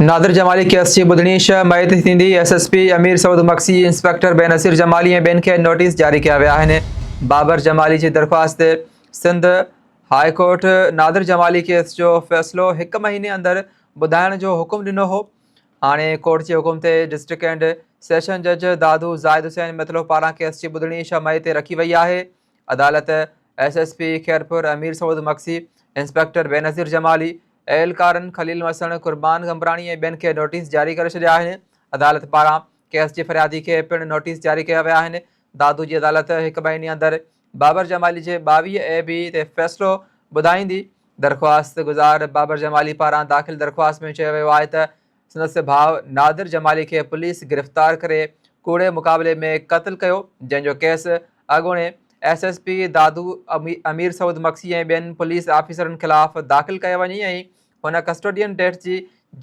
نادر Jamali case جي ٻڌڻي ڇهه مئي تي ٿيندي، S S P Amir Saud Magsi, inspector Benazir Jamali ۽ ٻين کي نوٽيس جاري ڪيا ويا آهن. بابر جمالي جي درخواست تي Sindh high court Nadir Jamali case جو فيصلو هڪ مهيني اندر ٻڌائڻ جو حڪم ڏنو هو، هاڻي ڪورٽ جي حڪم تي ڊسٽرڪٽ اينڊ سيشن جج دادو زاهد حسين متلو پاران ڪيس جي ٻڌڻي ڇهه مئي تي رکي وئي آهي. عدالت S S P Khairpur Amir Saud Magsi, inspector Benazir Jamali, اهلڪارن خليل وسڻ، قربان غمبراڻي ۽ ٻين کي نوٽيس جاري ڪري ڇڏيا آهن، عدالت پاران ڪيس جي فريادي کي پڻ نوٽيس جاري ڪيا ويا آهن، دادو جي عدالت هڪ مهيني اندر بابر جمالي جي ٻاويهه اي بي تي فيصلو ٻڌائيندي، درخواست گذار بابر جمالي پاران داخل درخواست ۾ چيو ويو آهي ته سندس ڀاء نادر جمالي کي پوليس گرفتار ڪري ڪوڙي مقابلي ۾ قتل ڪيو جنهن جو ڪيس اڳوڻي S S P Dadu Amir Saud Magsi ۽ ٻين پوليس آفيسرن خلاف داخل ڪيو وڃي ۽ هن ڪسٽوڊين ڊيٿ جي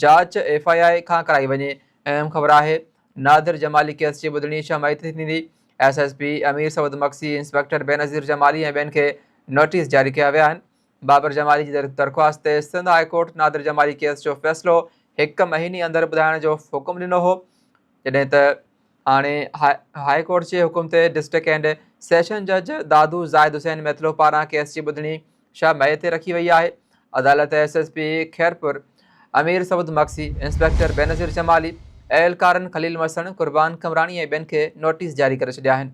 جاچ ايف آء آء کان ڪرائي وڃي اهم خبر آهي نادر جمالي ڪيس جي ٻڌڻي ڇهه مئي تي ٿيندي S S P Amir Saud مڪسي inspector Benazir Jamali ۽ ٻين کي نوٽيس جاري ڪيا ويا آهن بابر جمالي جي درخواست تي Sindh high court Nadir Jamali case جو فيصلو هڪ مهيني اندر ٻڌائڻ جو حڪم ڏنو هو جڏهن ته هاڻي هاء ڪورٽ جي حڪم تي ڊسٽرڪٽ اينڊ سيشن جج دادو زاهد حسين ميتلو پاران ڪيس جي ٻڌڻي شهه مئي تي رکي وئي آهي عدالت S S P Khairpur Amir Saud Magsi inspector Benazir Jamali اهلڪارن خليل مسڻ قربان قمراڻي ۽ ٻين کي نوٽيس جاري ڪري ڇڏيا آهن